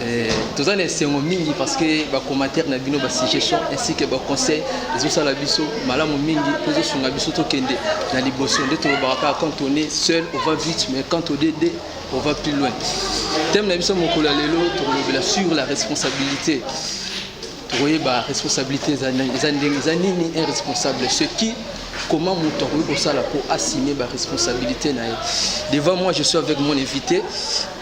Eh, toza na esengo mingi parce que ba commentaire na bino ba suggestion ainsi que ba conseil ezosala biso malamu mingi mpo ezosunga biso tokende na liboso nde tolobaka kaka quand on est seul on va vite mais quand on est deux on va plus loin thème na biso mokolo ya lelo tokolobela sur la responsabilité tokoyeba responsabilité eza ndenge eza nini un responsable ce qui comment moto akoki kosala mpo assume baresponsabilité na ye devant moi je suis avec mon invité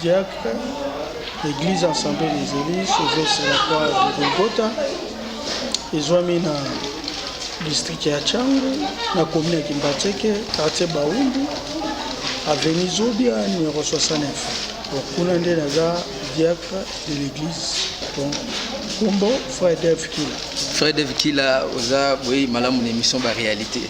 Diacre, Eglise Assemblee des Elis, Eglise la Croix de Golgotha, ezwami na district ya Changu, na commune ya Kimbatseke, quartier Baumbu, avenue Zobia, numero 69. Donc, kuna nde naza diacre de l'église. Donc, kombo Frère Dev Kila. Frère Dev Kila, oza boye malamu na émission ba réalité.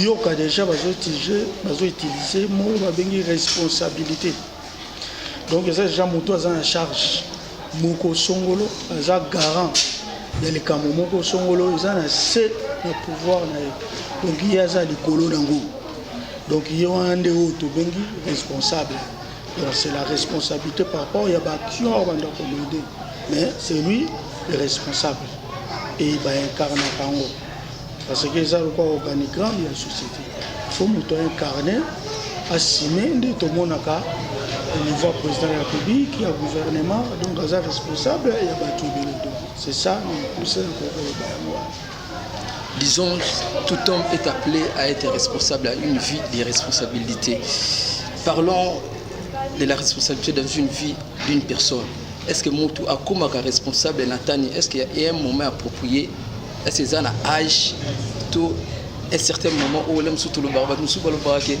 Yoka dejà bazo utiliser bazo utiliser mot babengi responsabilité donc eza dejà moto aza na charge moko songolo aza garant ya likambo moko songolo eza na se na pouvoir na ye donc ye aza likolo nango donc ye wana nde oyo tobengi responsable donc c'est la responsabilité par rapport ya baaction oyo banda komede mais c'est lui le responsable et baincarnaka yango parce que eza lokola organigramme ya société fo moto aincarne asime nde tomonaka au niveau ya président ya république ya gouvernement donc aza responsable ya bato ebele donc c'est ça pousa ya kokoloba yango wana disons tout homme est appelé à être responsable à une vie de responsabilité parlons de la responsabilité dans une vie d'une personne est ce que motu akomaka responsable na tani est ce qu'il y a un moment approprié est ce eza na age to un certain moment oyo na mosusu tolobaka bato mosusu balobaka ke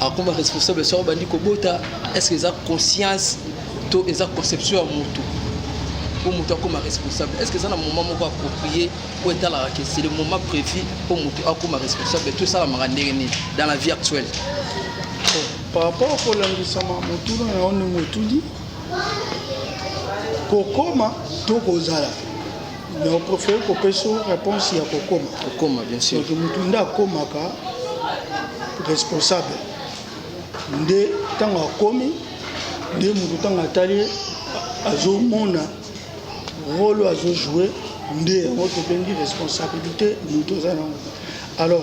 akoma responsable soki obandi kobota est ce que eza conscience to eza conception ya motu mpo motu akoma responsable est ce que eza na moment moko approprié oyo etalaka ke c'est le moment prévu mpo motu akoma responsable to esalamaka ndenge nini dans la vie actuelle par rapport kolandisama motuna na yo ndenge otuni kokoma to kozala mais on préfère kopesa réponse ya kokoma kokoma bien sûr donc mutu nde akomaka responsable nde ntango akomi nde mutu ntango atali azomona role azojoue nde yango tobengi responsabilité mutu aza nango alors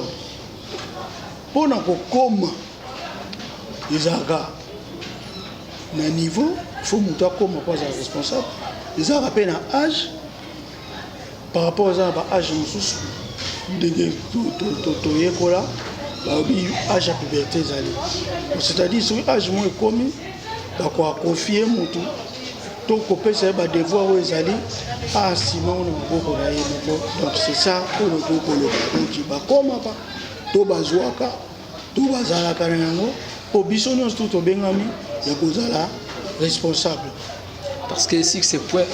mpo na kokoma ezalaka na niveau faut moto akoma mpo azala responsable ezalaka mpe na age par rapport eza na ba age mosusu ndenge toyekola balobi age ya puberté ezali c'est-à-dire soki age moko ekomi bakoakonfie motu to kopesa ye badevoir oyo ezali asima ngo na maboko na ye moko donc c'est ça oyo tokoki koloba donc bakomaka to bazwaka to bazalaka na yango mpo biso nyonso tu tobengami ya kozala responsable parce que si c'est point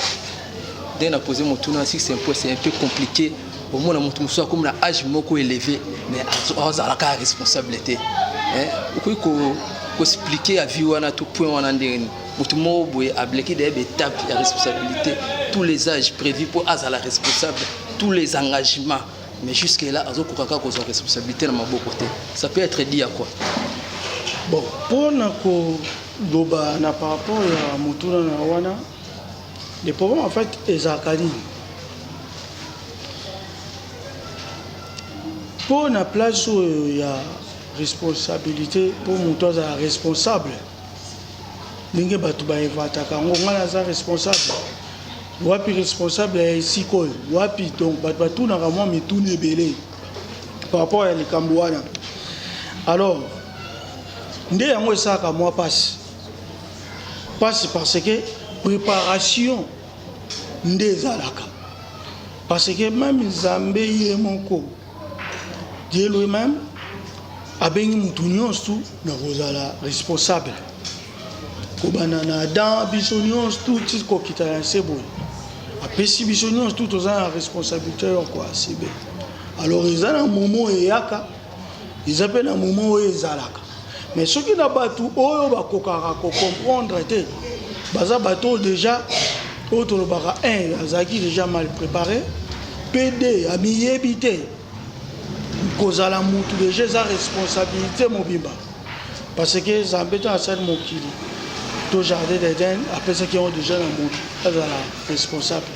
nde na pose motuna si c'est point c'est un peu compliqué omona moto mosusu akomi na age moko élevé mais azalaka responsable te okoki koexplike ya vie wana to point wana ndenge nini moto moko boye ableki dayeba étape ya responsabilité tous les âges prévu mpo azala responsable tous les engagements Mais jusque là azo koka kaka kozwa responsabilité na maboko te. Ça peut être dit à quoi? Bon, mpo na koloba na par rapport ya motuna na wana le problème en fait ezalaka nini mpo na place oyo ya responsabilité mpo moto azala responsable ndenge bato ba inventaka yango ngai naza responsable wapi responsable ya esika oyo wapi donc bato batunaka mwa mituni ebele par rapport ya likambo wana alors nde yango esalaka mwa mpasi mpasi parce que préparation nde ezalaka parce que meme nzambe ye moko Dieu lui meme abengi mutu nyonso na kozala responsable kobanda na adam biso nyonso tuti kokita na nse boye apesi biso nyonso tu toza na responsabilité yoko asibe alors eza na momo eyaka eza mpe na momo oyo ezalaka Mais soki na batu oyo bakokaka ko comprendre te baza bato deja oyo tolobaka un azalaki deja mal prépare mpe de amiyebi te kozala mutu deja eza responsabilité mobimba parce que zambe ntango asali mokili to jardin d'eden apesaki yango deja na moto azala responsable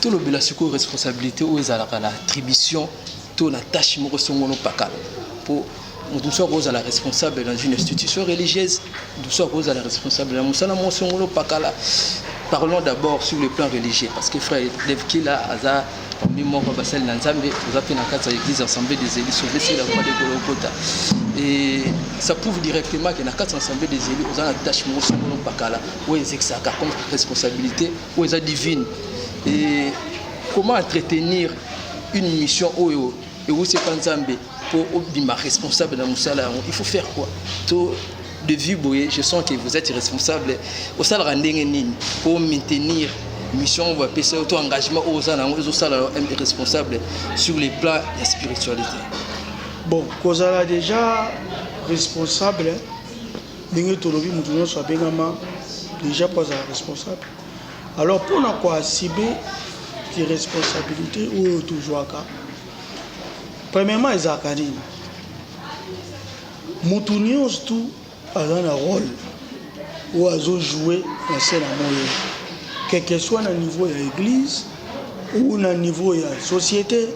Tolobela sikoyo responsabilite oyo ezalaka na attribution to na tâche moko songono pakala mpo moto mosusu akozala responsable dans une institution religieuse moto mosusu akozala responsable na mosala moko songono pakala parlons d'abord sur le plan religieux parce que frère devkila aza parmi moko basali na nzambe oza mpe na kati ya église assemblée des élus sauvé c'est la voie de golokota et ça prouve directement que na kati ya assemblée des élus oza na tâche moko songono pakala oyo ezekisaka comme responsabilité oyo eza divine et comment entretenir une mission oyo ewuti epa nzambe mpo obima responsable na mosala yango il faut faire quoi to de vue boye je sens que vous êtes responsable osalaka ndenge nini mpo maintenir mission oyo bapesa yo to engagement oyo oza na yango ezosala responsable sur les plans ya spiritualité bon kozala déjà responsable Ndenge tolobi mutu nionso abengama dejà po azala responsable alors pona ko assumer ki responsabilite oyo tozuaka premièrement ezalaka nini mutu nionso tu aza na role oyo azo jouer na se na moyi quelque soit na niveau ya eglise ou na niveau ya societe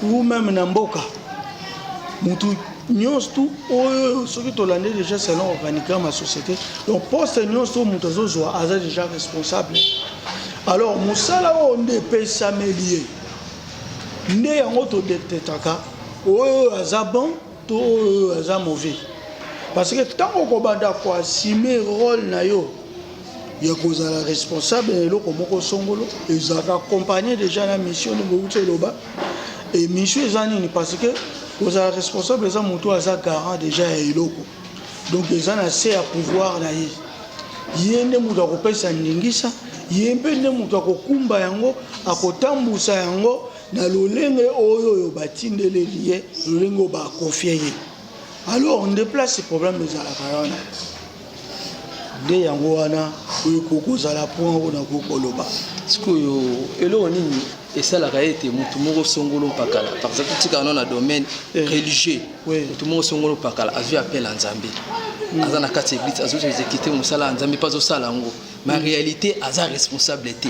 ou meme na mboka mutu nyonso tu oyo soki tolande déjà selon organigramme ya société donc poste nyonso to moto azozwa aza déjà responsable alors mosala oyo nde epesameli ye nde yango todektetaka oyo aza bon To oyo aza mauvais parce que tango okobanda ko assumer role na yo ya kozala responsable na eloko moko songolo ezalaka accompagner déjà na mission nde bowuti eloba et mission eza nini parce que kozala responsable eza moto aza garant déjà ya eloko donc eza na se ya pouvoir na ye ye nde moto akopesa ndingisa ye mpe nde moto akokumba yango akotambusa yango na lolenge oyo oyo batindeleli ye lolenge oyo bakofie ye alors nde place problème ezalaka wana nde yango wana ekoki kozala mpo yango nakoki koloba sikoyo eloko nini esalaka ete motu moko songolo mpakala par exemple tikaka no na domaine eh. religieux motu moko songolo mpakala azwi appel ya nzambe hmm. aza na kati ya eglise azozwa ezekite mosala ya nzambe mpe azosala yango ma réalité aza responsable te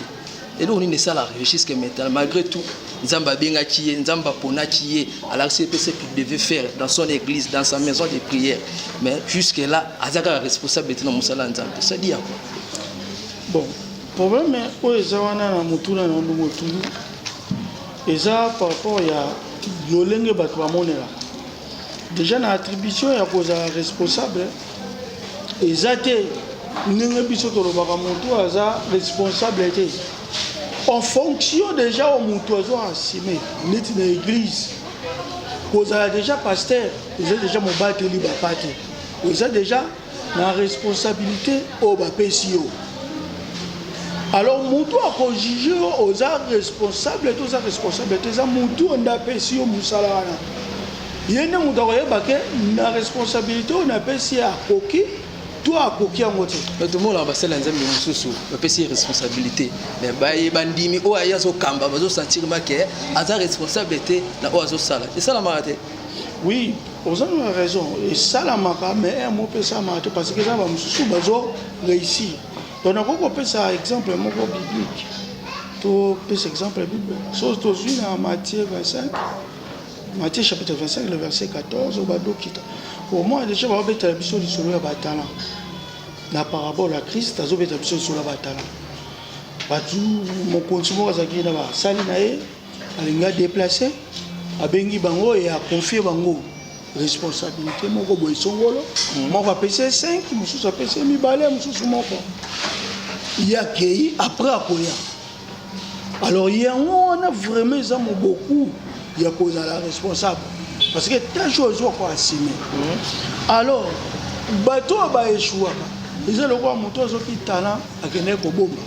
eloko nini esala regisque mental malgré tout nzambe abengaki ye nzambe aponaki ye alakisi ye mpe ce qu'il devait faire dans son église dans sa maison de prière mais jusque là aza kaka responsable te na mosala ya nzambe sadi ya quoi bon problème oyo eza wana na motuna na ndongo tulu eza par rapport ya lolenge bato bamonelaka Deja na attribution ya kozala responsable eza te ndenge biso tolobaka motu aza responsable te en fonction deja oyo motu azo asime neti na eglise kozala deja pasteur eza deja mobateli bapate eza deja na responsabilite oyo bapesi yo alors mutu akojuge yo oza responsable te oza responsable te eza mutu oyo nde apesi yo mosala wana ye nde moto akoyeba ke na responsabilite oyo napesi ye akoki to akoki yango te bato omonaka basali ya nzambe mosusu bapesi ye responsabilité me baye bandimi oyo aye azokamba bazosentir make aza responsable te na oyo azosala esalamaka te oui Oza na raison esalamaka mais heure moko esalamaka te parce que eza ba mususu bazo reussir donc nakoki kopesa exemple moko biblique topesa exemple biblique soki tozwi na Matthieu 25 Matthieu chapitre 25 le verset 14 oyo badokita omona deja baobetela biso lisolo ya batalant na parabole ya Christ azobetela biso lisolo ya batalant bato mokonzi moko azalaki na basali na ye Alingi a deplacer, abengi bango et a confier bango responsabilite moko boye songolo, moko apesi ye 5, mosusu apesi ye mibale, mosusu moko. Ye akei après akoya. Alors yango wana vraiment eza moboku ya kozala responsable parce que tâche oyo ezwa ko assumer. Alors bato oyo ba echouaka eza lokola moto azoki talent akendeki kobomba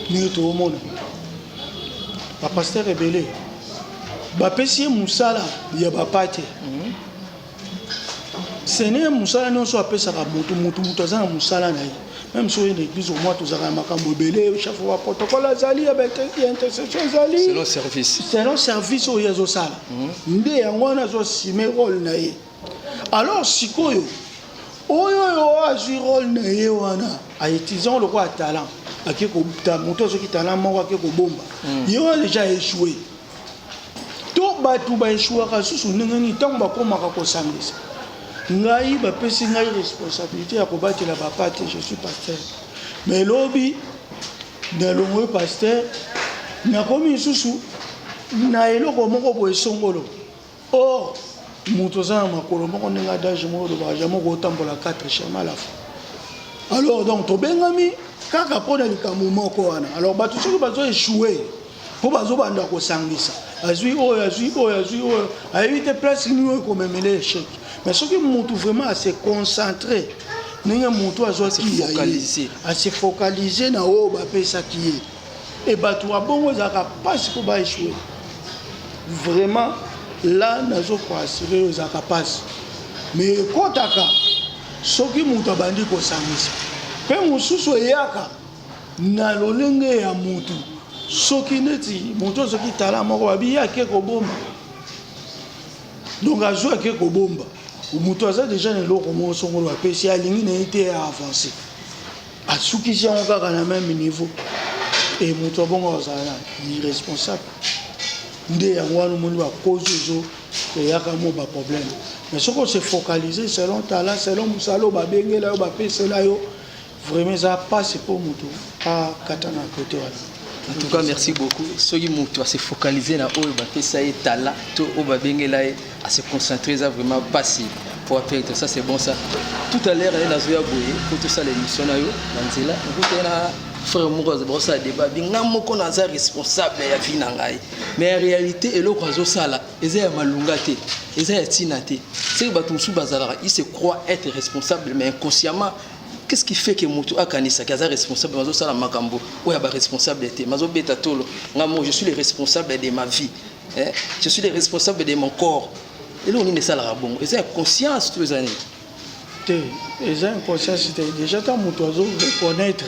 ndenge toomona. ba pasteur ebele bapesi ye mosala ya bapate mhm. sene mosala nyonso apesaka motu motu motu aza na mosala na ye meme soki na eglise omwa tozalaka na makambo ebele chef wa protocole azali ya intercession ezali selon service oyo azosala mhm. nde yango wana azosime role na ye Alors sikoyo oyo yo azwi role na ye wana aetisango lokola talent ake kota moto azoki talent moko ake kobomba hmm. ye wana deja aechoue to bato baechuaka lisusu ndenge nini ntango bakomaka kosangisa ngai bapesi ngai responsabilité ya kobatela bapa te je suis pasteur mais lobi nalongwe pasteur nakomi lisusu na eloko moko boye songolo Or mutu oza na makolo moko ndenge adage moko olobaka jamais okotambola 4 chemin à la fois alors donc tobengami kaka mpo na likambo moko wana alors bato soki bazo echoue mpo bazobanda kosangisa azwi oyo azwi oyo azwi oyo ayebi te place nini oyo ekomemele echec mais soki mutu vraiment ase concentre ndenge mutu azwaki ya ye ase focalise na oyo bapesaki ye Et batu wa bongo ezalaka pasi po ba echouer. Vraiment là nazo ko assurer yo ezalaka pasi. Mais ekotaka soki mutu abandi ko sangisa. Pe mususu eyaka na lolenge ya mutu soki neti mutu azoki tala moko babi yake kobomba. Donc azo yake kobomba. Mutu aza deja na eloko moko songolo bapesi alingi na ye te ya avancer. Asukisi yango kaka na meme niveau et moto ya bongo akozala na irresponsable nde yango wana omoni ba cause ezo eyaka mo ba problème mais soki ose focaliser selon talent selon mosala oyo babengela yo bapesela yo vraiment eza mpasi mpo moto akata na kote wana en tout cas merci beaucoup soki moto ase focaliser na oyo bapesa ye talent to oyo babengela ye à se concentrer eza vraiment pasi po apere to ça c'est bon ça tout à l'heure ayela zoya boye po tosala émission na yo na nzela okuta na frère moko aza bakosala débat bi ngai moko naza responsable ya vie na ngai mais ya réalité eloko azosala eza ya malonga te eza ya ntina te seke bato mosusu bazalaka il se croit être responsable mais inconsciemment qu'est-ce qui fait que moto akanisaki aza responsable mazosala makambo oyo ya baresponsable te mazobeta tolo ngai moko je suis le responsable de ma vie eh, je suis le responsable de mon corps eloko nini esalaka bongo eza ya conscience to eza nini te eza inconscience te déjà ta moto azo reconnaître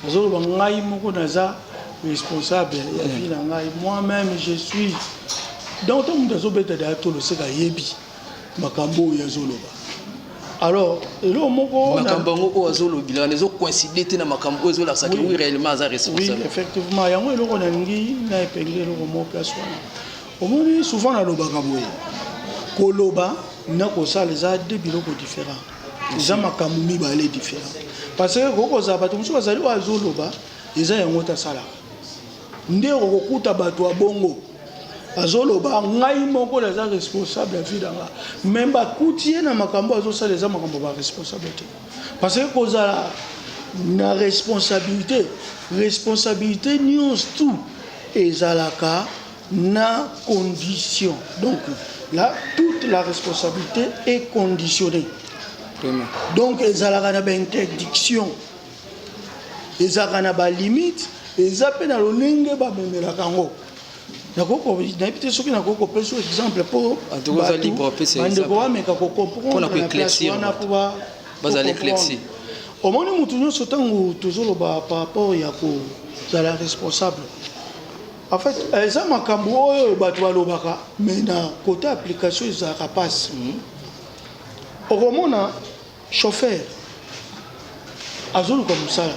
azoloba ngai moko naza responsable ya vie na ngai moi même je suis donc to moto azobeta daya to loseka ayebi makambo oyo azoloba alors eloko moko makambo yango oyo azolobila wana ezocoincide te na makambo oyo ezolakisa ke oui réellement aza responsable oui effectivement yango eloko nalingi na epenge eloko moko place wana omoni souvent nalobaka boye koloba na kosala eza de biloko différent eza makambo mibale différent parce que kokozala bato mosusu bazali oyo azoloba eza yango te asalaka nde okokuta bato ya bongo azoloba ngai moko naza responsable ya vie na nga me bakuti ye na makambo azosala eza makambo ba responsable te parce que kozala na responsabilité responsabilité nyonso tout ezalaka na condition donc là toute la responsabilité est conditionnée donc ezalaka na bainterdiction ezalaka na ba limite eza mpe na lolenge bamemelaka yango nayebi te soki nakoki kopesa exemple mpo bandeko bameka kokomprendrewana mpo bazali éclairci omoni motu nyonso ntango tozoloba par rapport ya kozala responsable en fait eza makambo oyo bato balobaka mais na kote application ezalaka mpasi hmm. okomona Chauffeur azoluka musala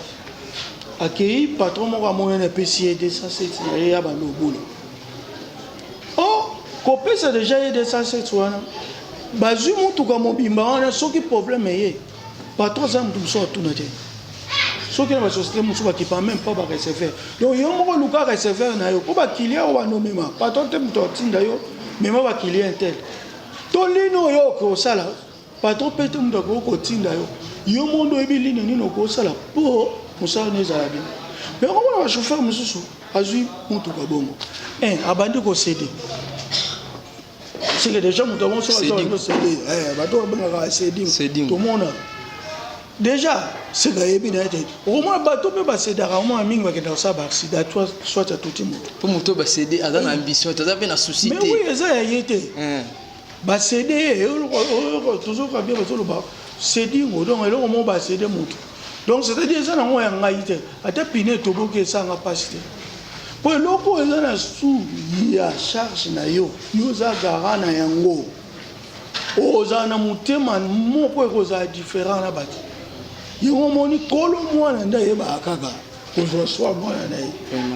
akeyi patron moko amonani apesi ye 207 na ye abanda kobula or kopesa deja ye 207 wana bazwi motuka mobimba wana soki problème eye patron aza moto mosusu atuna te soki na basociété mosusu bakipa meme pas bareceveur donc yo moko luka receveur na yo mpo bakilien oyo bando mema patron te moto atinda yo mema bakilien tel to lino oyo okosala Patron mpe te moto akoki kotinda yo yo moko nde oyebi lini nini okosala mpo mosala no ezala bien me okomona bachauffeur mosusu azwi motuka bongo abandi kosede seke deja moto yango soki azosede eh, bato babengaka seding tomona deja seke ayebi na ye te okomona bato mpe basedaka omona mingi bakendaka kosala baaksida soit atuti moto mpo moto basede aza na ambition te aza mpe na souci te eza ya ye te eh. Ba CD tozoka bien bazoloba sedingo donc eloko moko ba CD moto donc c'est-à-dire eza nango ya ngai te ata pine etoboki esanga mpasi te mpo eloko oyo eza na su ya charge na yo yo oza gara na yango ozala na motema moko ekozala different na bato yango omoni kolo mwana nde ayebaka kaka kozwa swa mwana na ye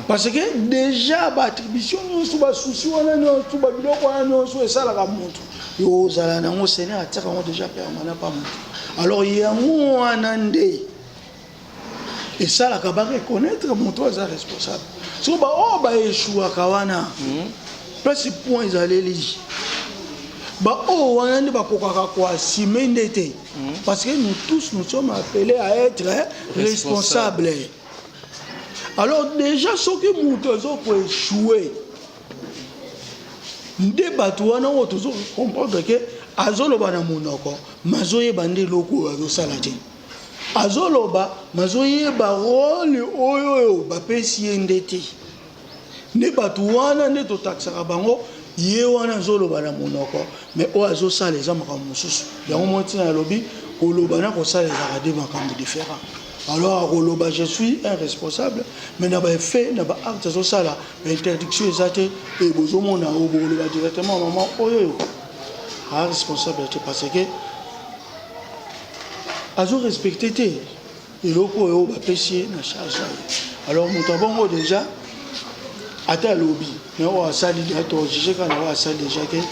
parce que déjà baattribution nyonso basusi wana nyonso babiloko wana nyonso esalaka moto yo ozala nango seigneur atiaka yango déjà permanent pa moto alors yango wana nde esalaka bareconnaitre moto aza responsable so baoyo baeshuaka wana hmm. place point ezaleli baoyo wana nde bakokaka koasime nde te Parce que nous tous, nous sommes appelés à être responsables. Alors déjà, ce que nous devons échouer, nde bato wana oyo tozo comprendre ke azoloba na monoko mazoyeba nde eloko oyo azosala te azoloba mazoyeba role oyo oyo bapesi ye nde te nde bato wana nde totakisaka bango ye wana azoloba na monoko mais oyo azosala eza makambo mosusu yango moko ntina yalobi koloba na kosala ezalaka de makambo différent alors akoloba je suis un responsable mais na baeffet na baacte azosala bainterdiction eza te e bozomona oyo bokoloba directement mama oyo oyo a responsable te parce que azo respecte te eloko oyo bapesi ye na charge ayo alors moto ya bongo deja ata alobi me oyo asali deja tojuge kaka na oyo asali deja ke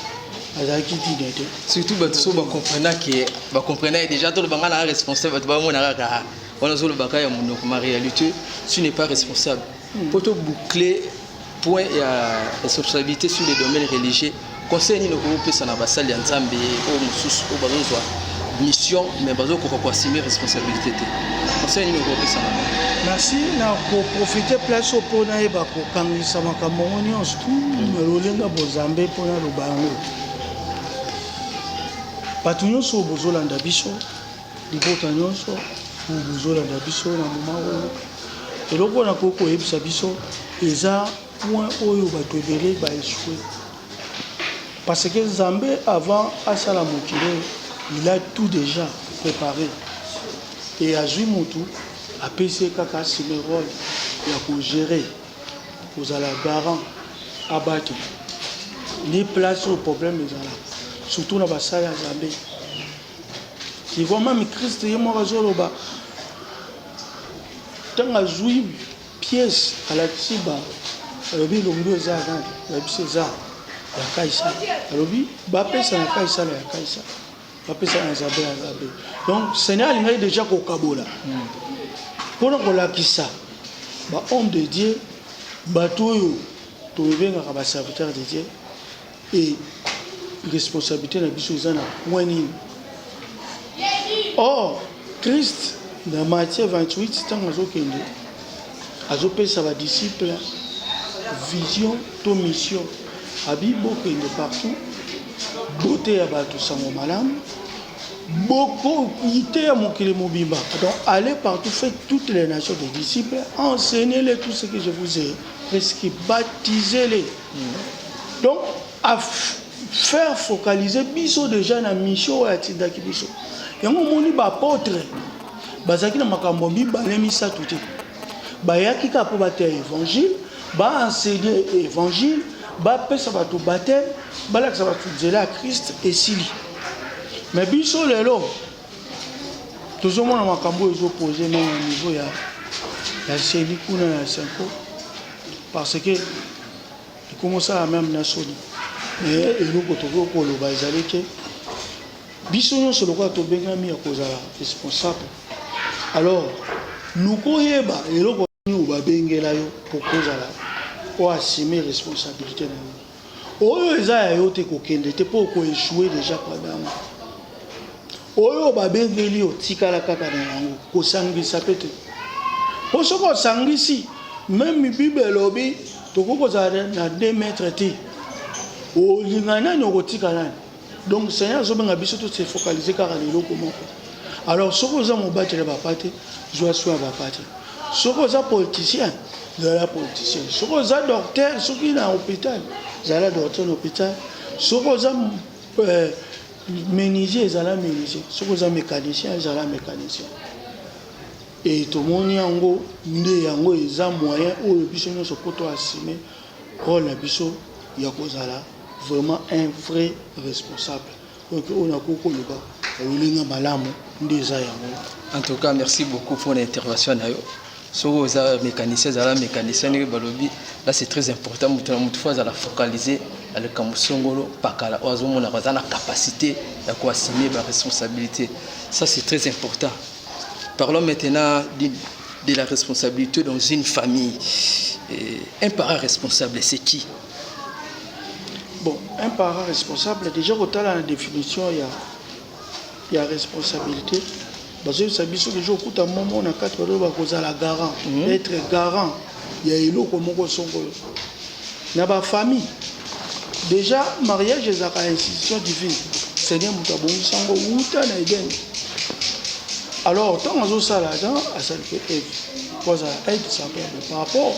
azalaki dine te surtout bato so bacomprena ke bacomprena ye deja toloba ngai naa responsable bato bamona kaka wana ozolobaka ya monoko ma réalité tu n'est pas responsable Mpo to boucler point ya responsabilité sur les domaines religieux, conseil nini okoki kopesa na basali ya Nzambe oyo mosusu oyo bazozwa mission mais bazokoka koassume responsabilité te? Conseil nini okoki kopesa na bango? Merci na koprofite place oyo mpo nayeba kokangisa makambo yango nyonso tu na lolenga bozambe mpo naloba yango bato nyonso oyo bozolanda biso Libota nyonso oyo bozolanda biso na moma oyo, eloko na koki koyebisa biso eza point oyo bato ebele ba echoue parce que Nzambe avant asala mokili oyo il a tout dejà prépare e azwi motu apesi ye kaka asime role ya kogere kozala garant abaki nde place oyo problème ezalaka surtout na basali ya Nzambe Sikoyo mami Christ ye moko azoloba ntango azwi pièce alakisi ba alobi elongi eza nani yebisi eza ya kaisala alobi bapesa na kaisala ya kaisala bapesa na zabe ya zabe donc seigneur alingaki déjà kokabola mpona kolakisa ba homme de dieu bato oyo tobengaka ba serviteur de dieu Et responsabilite na biso eza na point nini? Or, Christ na Matthieu 28 ntango azokende azopesa ba disciples vision to mission abi bokende partout boteya bato sango malamu bokoyiteya mokili mobimba donc allez partout fait toutes les nations des disciples enseignez-les tout ce que je vous ai prescrit baptisez-les donc a faire focaliser biso déjà na mission oyo atindaki biso yango omoni baapotre bazalaki na makambo mibale misato te bayaki kaka mpo bateya évangile baenseigne évangile bapesa bato bateme balakisa bato nzela ya krist esili me biso lelo tozomona makambo oyo ezopose na niveau ya ya seli kuna ya senko Parce que ekomi osala meme na soni me eloko tokoki koloba ezali ke biso nyonso lokola tobengami ya kozala responsable alors luka oyeba eloko nini babengela yo mpo kozala oasime responsabilité na yo Oyo eza ya yo te kokende te po oko echoue deja padamu. Oyo babengeli yo tikala kaka na yango kosangisa pe te. Po soki osangisi meme bible elobi tokoki kozala na 2 mètres te. Olinga nani okotika nani? Donc Seigneur azobenga biso to se focaliser kaka na eloko moko. Alors soki oza mobateli ya papa te, zwa soin ya papa te. Soki oza politicien, zala politicien. Soki oza docteur, soki na hôpital, zala docteur na hôpital. Soki oza euh, menuisier, zala menuisier. Soki oza mécanicien, zala mécanicien. Et tomoni yango nde yango eza moyen oyo biso nyonso poto assumer Role na biso ya kozala vraiment un vrai responsable donc oyo nakoki koloba ololi nga malamu nde eza yango. En tout cas merci beaucoup pour l'intervention na yo soki oza mécanicien ezala mécanicien ndenge balobi là c'est très important moto na moto fo azala focalise na likambo songolo pakala oyo azomonaka aza na capacité ya koassume baresponsabilité ça c'est très important parlons maintenant de la responsabilite dans une famille euh, un parent responsable c'est qui bon un parent responsable déjà kotala na définition ya ya responsabilité bazoyebisa biso deja okuta momo na kati baloba kozala garant mm -hmm. être garant ya eloko moko songolo na ba famille deja mariage ezalaka institution divine seigneur moto abongisa yango wuta na eden alors ntango azosala adan asali mpe eve mpo azala aide semblable par rapport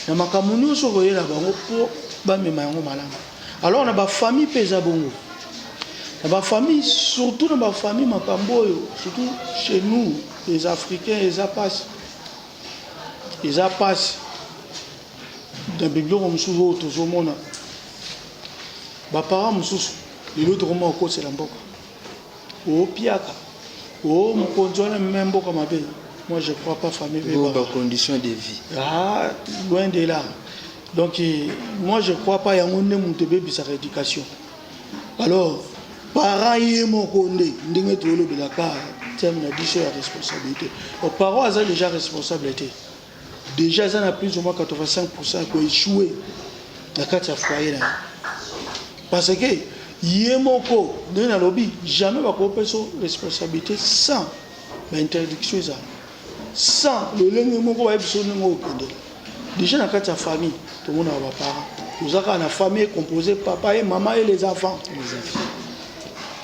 na makambo nyonso koyela bango mpo bamema yango malamu alors na bafamille mpe eza bongo na bafamille surtout na bafamille makambo oyo surtout chez nous les africains eza mpasi Eza pasi na biloko mosusu oyo tozomona ba parents mosusu lelo tokoma kokosela mboka opiaka o mokonzi wana meme mboka mabe moi je crois pas famille beba ba conditions de vie ah loin de là donc moi je crois pas yango nde moto ebebisaka éducation alors parent ye moko nde ndenge tolobelaka thème na biso ya responsabilité donc parent aza déjà responsable te déjà aza na plus ou moins 85 pourcent ya koechoue na kati ya foyer na ye parce que ye moko ndenge nalobi jamais bakopesa responsabilité sans bainterdiction ezala sans lolenge moko bayebi biso ndenge oyo okende déjà na kati ya famille tomonaka baparent toza kaka na famille compose papa ye mama ye les enfants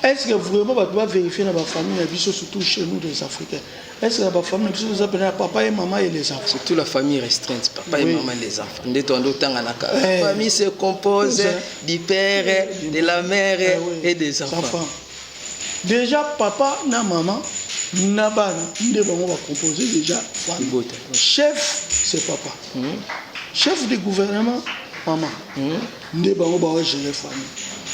est ce que vraiment bato bavérifie na bafamille na biso surtout chez nous les africains est ce que na bafamille na biso toza mpena ya papa ye mama ye les enfants surtout la famille restreinte papa ye mama les enfants nde toando otanganaka eh. famille se compose du père de la mère eh et des enfants Dejà papa na maman na bana nde bango ba compose dejà libota. Chef c'est papa. Mmh. Chef du gouvernement maman. Mmh. Nde bango ba gérer famille.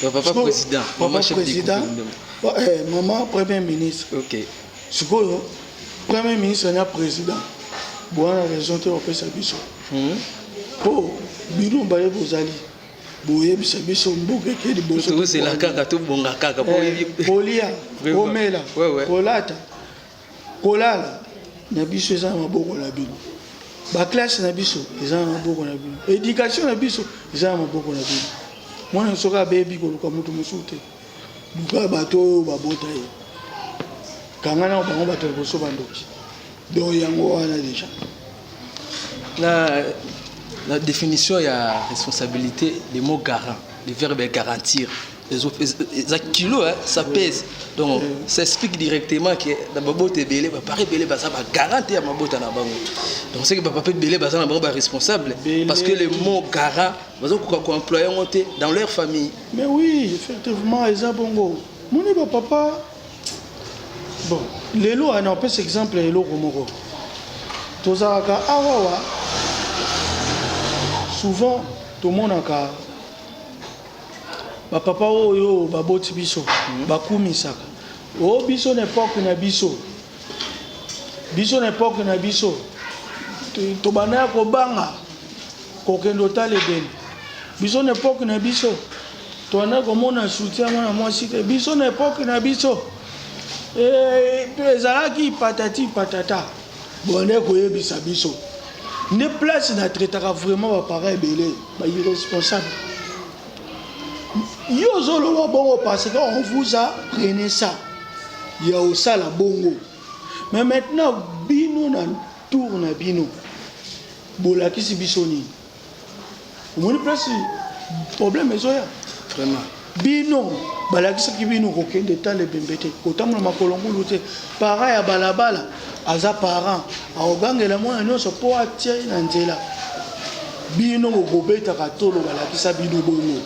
Ba papa Siko, président, papa maman chef président, du gouvernement. Eh, maman premier ministre. OK. Sikoyo premier ministre na président. Boana raison te opesa biso. Mmh. Po bino baye bozali boyebisa biso mboka eke liboso tozela kaka tobonga kaka eh, kolia komela kolata kolala na biso eza na maboko na bino baklasse na biso eza na maboko na bino edikatio na biso eza na maboko na bino mwana soki abebi koluka moto mosusu te luka bato oyo babota ye kanga na bango bato liboso bandoki donc yango wana deja Na, na definition ya responsabilite, le mot garant, le verbe est garantir. eza kilo hein, ça pèse donc oui. ça explique directement que na babota ebele bapapa ebele baza bagarante ya mabota na bango donc seke bapapa ebele baza na bango baresponsable parce que le mot garant bazokoka koemploye yango te dans leur famille mais oui effectivement eza bongo moni bapapa Bon, lelo wana opesa exemple ya eloko moko tozalaka awawa souvent tomonaka bapapa oyo baboti biso hmm. bakumisaka o oh, biso na epoke na biso biso na epoke na biso tobanda ya kobanga kokende otala ebele biso na epoke na biso Toanda komona soutien ya mwana mwasi te biso na epoque na biso eh, ezalaki patati patata bonde koyebisa biso nde place na traitaka vraiment bapara ebele ba irresponsable yo ozoloba bongo parce que on vous a prene ça ya osala bongo mais maintenant bino na tour na bino bolakisi biso nini omoni place problème ezoya vraiment bino balakisaki bino kokende etala ebembe te kotambola makolo ngulu te parent ya balabala aza parent akogangela mwana nyonso mpo atia ye na nzela bino bokobetaka tolo balakisa bino bongo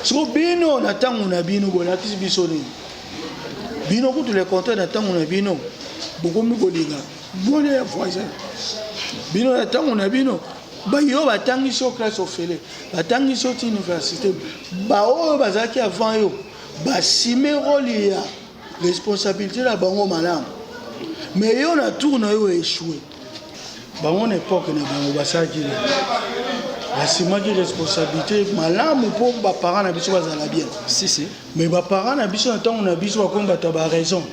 siko bino na ntango na bino bolakisi biso nini bino kutu le contraire na ntango na bino bokomi kolinga mwana ya voisin bino na ntango na bino Baye oyo batangisi yo classe ofele, batangisi yo ti universite, baoyo bazalaki avant yo basime role ya responsabilite na bango malamu, mais yo na tour na yo echoue. Bango na epoque na bango basalaki nini? basimaki responsabilité malamu mpo baparent na biso bazala bien si, si. mais baparent na biso na ntango na biso bakomi bato ya baraison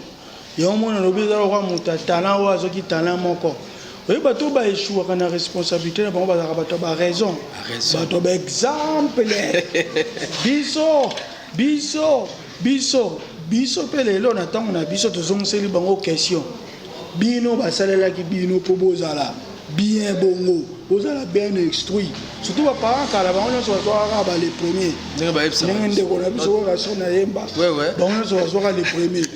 Yango mona alobi eza lokola moto ya talent oyo azwaki talent moko. Oyebi bato oyo ba echouaka na responsabilité na bango bazalaka bato ya ba raison, bato ya ba exemple biso biso biso biso mpe lelo na ntango na biso tozongiseli bango question bino basalelaki bino mpo bozala bien bongo bozala bien instruit surtout ba parents kala bango nyonso bazwaka kaka ba le premier ndenge bayebisa ndenge ndeko na biso oyo kasi na yemba bango nyonso bazwaka le premier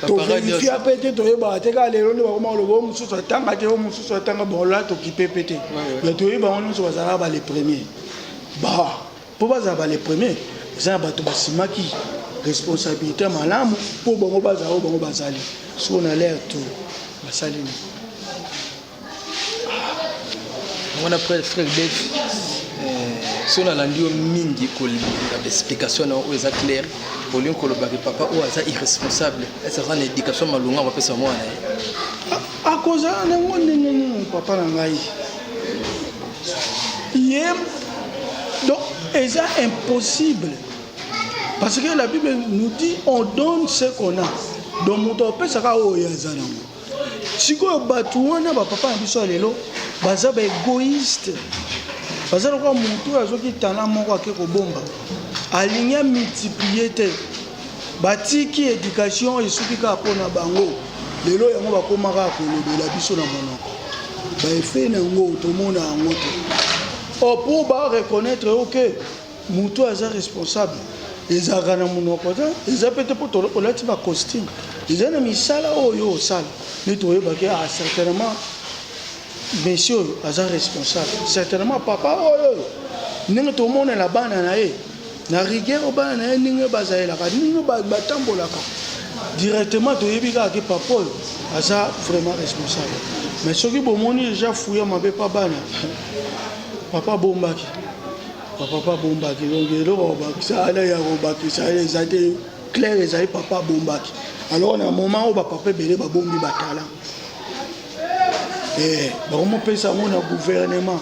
toverifia mpe te toyebaka te kaka lelo nde bakoma koloba oyo mosusu atanga te oyo mosusu atanga bolola tokipe mpe te mais toyebi bango nyonso bazalaka ba le premier ba Po bazala ba les premiers eza ya bato basimaki responsabilite ya malamu po bango bazala oyo bango bazali sikoyo na l'air tour basali nini mwana frère frère Dave soki nalandi yo mingi kolanda baexplication na oyo eza claire olingi koloba ke papa oyo aza irresponsable ese aza na éducation malonga bapesa mwana na ye akozala nango ndenge nini papa na ngai ye donc eza impossible parce que la bible nous dit on donne ce qu'on a donc moto apesaka oyo aza nango sikoyo bato wana bapapa na biso ya lelo baza baegoïste baza lokola motu oyo azoki tala moko ake kobomba alingi amultiplie te Batiki education esuki kaka mpo na bango lelo yango bakoma kaka kolobela biso na monoko baefe na yango tomona yango te o oh, mpo ba reconnaître yo ke motu aza responsable ezalaka na monoko te eza mpe te mpo olati bacostume eza na misala oyo osala nde toyebaki a ah, certainement monsieur oyo aza responsable certainement papa oyo oyo ndenge tomonela bana na ye na rigueur oyo bana na ye ndenge oyo bazalelaka ndenge oyo ba- batambolaka directement toyebi kaka ke papa oyo aza vraiment responsable mais soki bomoni deja fuya mabe pa bana papa abombaki bapapa abombaki donc eloko bakobakisa ana ya kobakisa wana eza te claire ezali papa abombaki alors na moment oyo bapapa ebele babombi batalant Eh, bakomopesa yango na guvernema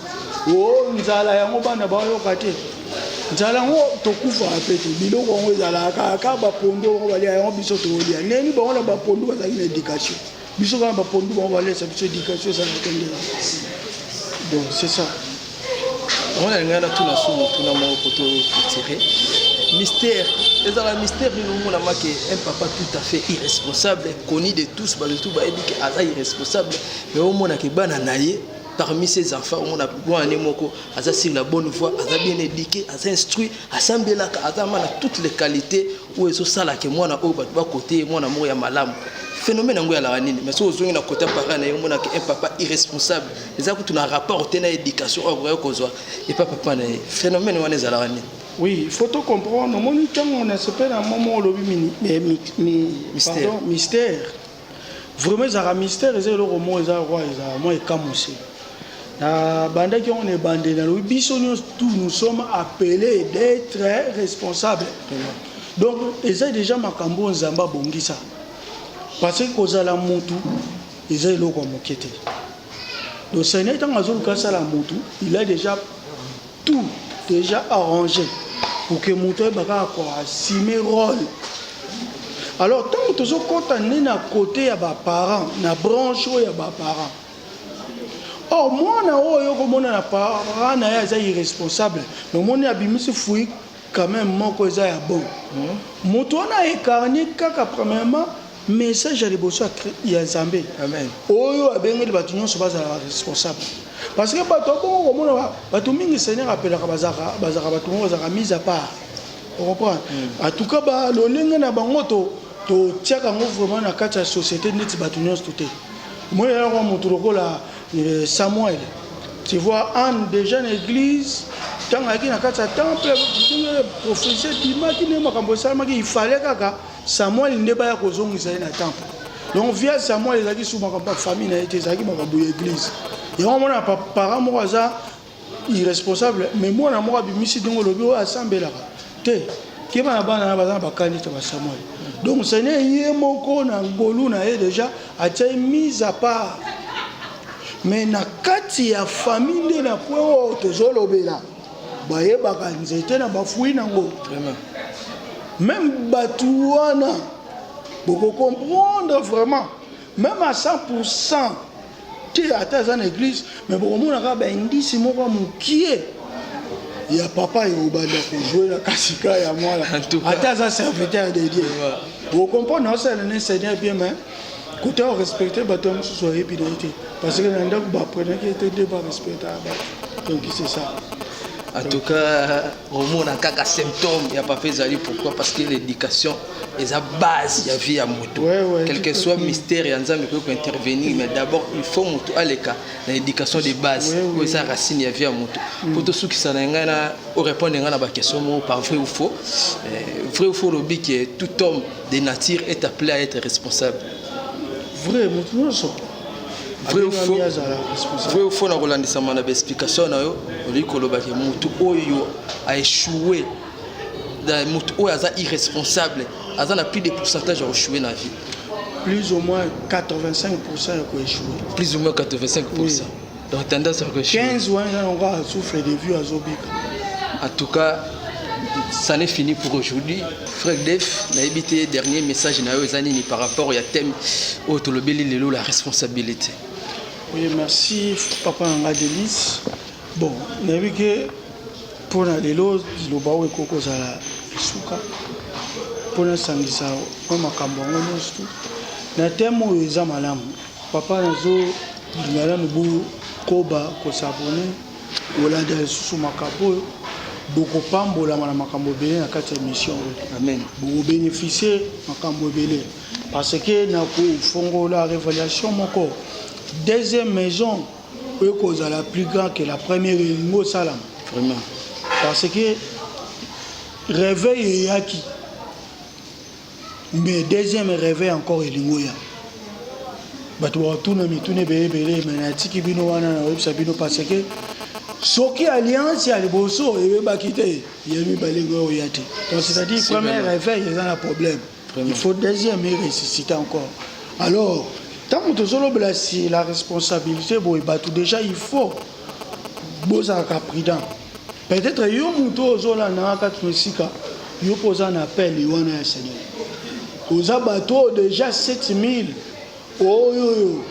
o oh, nzala yango bana bayoka te nzala yango tokufaka mpe te biloko yango ezalaka kaka bapondu yango balia yango biso tokolia ndeni bango na bapondu bazalaki na éducation biso kaka bapondu bango balesa biso éducation ezalaka te nde donc c'est ça Mwana ngai natuna so motuna moko koto etire mystère ezala mystère nini omonama ke un papa tout à fait irresponsable connu de tous bato tout bayebi ke aza irresponsable mais omona ke bana na ye parmi ses enfants omona mwana ne moko aza sur la bonne voie aza bien éduqué aza instruit asambelaka aza ma na toutes les qualités oyo ezosala ke mwana oyo bato bakote mwana moko ya malamu phénomène yango yalaka nini mais soki ozongi na kota parent na ye omonaka un papa irresponsable eza kutu na rapport te na éducation oyo akoki kozwa epa papa na ye phénomène wana ezalaka nini oui il faut to comprendre omoni ntango na sepela momo olobi mystère Vraiment ezalaka mystère eza eloko moko eza kwa eza mwa ekamwisi na bandaki yango na ebandeli nalobi biso nyonso tout nous sommes appelés d'être responsable donc eza déjà makambo oyo nzambe abongisa parce que kozala mutu eza eloko ya moke te donc seigneur ntango azoluka asala mutu il a déjà Tout dejà arrange pour que moto ayeba kaka ko assumer role. Alors tango tozo kota nde na cote ya ba parents na branche oyo ya ba parents. Or mwana oyo okomona na parent na ye aza irresponsable, mais omoni abimisi fruit quand même moko eza ya bon. Moto wana a ecarner kaka premièrement Message ya liboso ya Nzambe oyo abengeli bato nyonso bazala ba responsable parce que bato abongo komona bato mingi Seigneur apelaka bazaka bazaka bato moko bazaka mise à part okomprendre hmm. en tout cas ba lolenge na bango to totiaka yango vraiment na kati ya société neti bato nyonso te moi yango moto lokola euh, Samuel tu vois Anne déjà na église ntango ayaki na kati ya temple prophétie ebimaki nde makambo esalamaki ifale kaka Samuel nde baya kozongisa ye na temple donc via Samuel ezalaki su makambo ya famille na ye te ezalaki makambo ya eglise yango omona parent moko aza irresponsable mais mwana moko abimisi ndenge olobi oyo asambelaka te keba na bana na baza na bakani te basamuel donc seigneur ye moko na ngolu na ye deja atia ye mise à part mais na kati ya famille nde na point oyo tozolobela bayebaka nzete na bafui nango meme bato wana bokokomprendre vraiment meme à 100 pourcent te ata aza na église me bokomona kaka baindisi moko ya mokie ya papa ekobanda kozwela kasi ka ya mwana ata aza serviteur de dieu bokomprendre naosalana ne seigneur bien mais Kuta o respecter bato ya mosusu ayebi na ye te parce que na ndako ba apprenaki ye te nde ba respectaka bato donc c'est ça En tout cas, omona kaka symptôme ya papa ezali pourquoi parce que l'éducation eza base ya vie ya moto Ouais, ouais, quel que tout à soit fait. mystère ya nzambe ekoki kointervenir mais d'abord il faut moto aleka na éducation de base Ouais, ouais. oyo eza racine ya vie ya moto mpo tosukisa na ngai na orépondre ngai na baquestion moko par vrai ou faux Eh, vrai ou faux olobi ke tout homme de nature est appelé à être responsable vrai moto nyonso vrai ou faux vrai ou faux na kolandisama na baexplication na yo olingi kolobaki motu oyo aechoue motu oyo aza irresponsable aza na plus de pourcentage ya kochoue na vie plus ou moins 85 ya koechoue plus ou moins 85 oui. Donc tendance à quelque chose. 15 ou 1 ans, on va souffrir des vues à Zobika. En tout cas, ça n'est fini pour aujourd'hui. Frère Def, na évité dernier message na yo ezani ni par rapport au thème au tolobeli lelo la responsabilité. Oui, merci papa Nanga Delis. Bon, na évité pour na lelo liloba oyo ekoki kozala esuka mpo nasangisa mwa makambo yango nyonso na teme oyo eza malamu Papa nazo linga nanu bo koba ko s'abonner ko landa lisusu makambo oyo boko pambolama na makambo ebele na kati ya emission oyo amen boko beneficier makambo ebele parce que na ko fongola revelation moko deuxième maison oyo kozala plus grand que la première elingi osalama vraiment parce que réveil eyaki mais deuxième reve encore elingi oya bato bakotuna mituna ebele ebele me natiki bino wana nakoyebisa bino parce que soki alliance ya liboso eyebaki te ya mibale ngo oya te donc c'est-à-dire premier réveil eza na problème il faut deuxième eresisite encore alors ntango tozolobela si la responsabilité boye bato déjà il faut bozalaka prudent peut-être yo moto oyo ozolandaka kati na esika yo mpo oza na appel wana ya seigneur oza bato oyo deja 7000 oyo oyo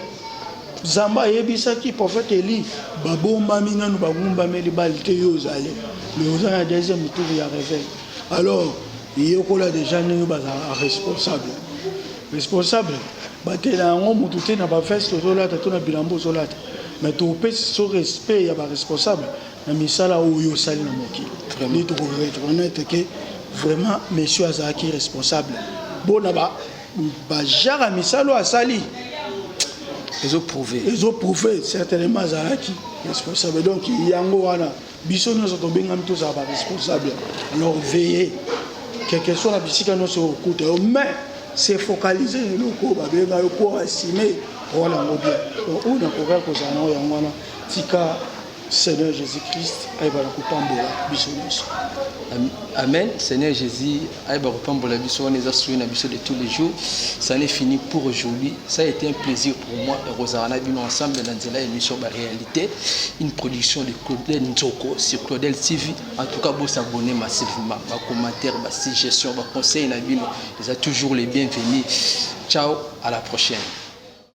zamba ayebisaki prophète eli babombami nano bagumbameli bali te yo ozali mais oza na deuxième tour ya réveil alors yekola deja ndenge bazalaka responsable Responsable batela yango mutu te na ba veste ozolata to na bilamba ozolata mais topesi so respect ya ba responsable na misala oyo osali na mokili nde toko reconnaître ke vraiment monsieur azalaki responsable bona ba ba genre ya misala oyo asali ezo prouver ezo prouver certainement azalaki responsable donc yango wana Biso nionso tobengami tozala ba responsable alors veille quelque soit na bisika nionso okuta yo mais se focaliser na eloko oyo babenga yo mpo asime wana yango bien donc oyo nakoka kozala na oyo yango wana tika Seigneur Jésus-Christ ayeba na kopambola biso nyonso. Amen. Seigneur Jésus ayeba kopambola biso wana eza soyi na biso de tous les jours ça n'est fini pour aujourd'hui ça a été un plaisir pour moi ekozala na bino ensemble na nzela émission ba réalité une production de claudel nzoko sur claudel tv en tout cas bosabonne massivement bacommentaire basuggestion baconseil na bino eza toujours les bienvenus ciao à la prochaine